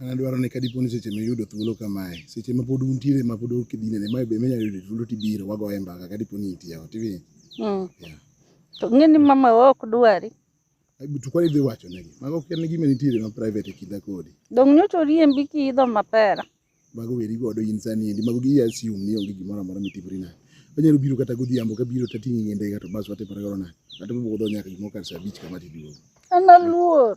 An adwaro ni ka dipo ni seche miyudo thuolo kamae, seche ma pod untiere ma pod ok idinene, ma be minyalo yudo thuolo tibiro wagoye mbaka ka dipo ni intie ot iwinjo. Mm. Yeah. To ng'e ni mama wa ok dwari. Ai, To kwani idhi wacho negi. Mago ok en gima nitiere ma private e kinda kodi. Dong' nyocha oriembi kiidho mapera. Mago weri godo in sani endi. Mago gi assume ni onge gimoro amora mitimori nade. Onyalo biro kata godhiambo ka biro tating'i ng'e ndege to bas watimore godo nade. Kata mobudho nyaka gimoro kar saa abich kama tiduogo. An aluor.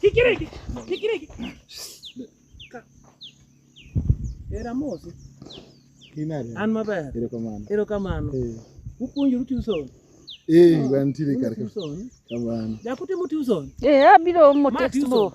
Kikiriki, kikiriki. Era mosi. Kinare. An maber. Erokamano. Erokamano. Eh. Upuonjoru tuson. Eh, ah, wantiere kar ka. Kamano. Jakute mu tuson. Eh, abiro mo textbook.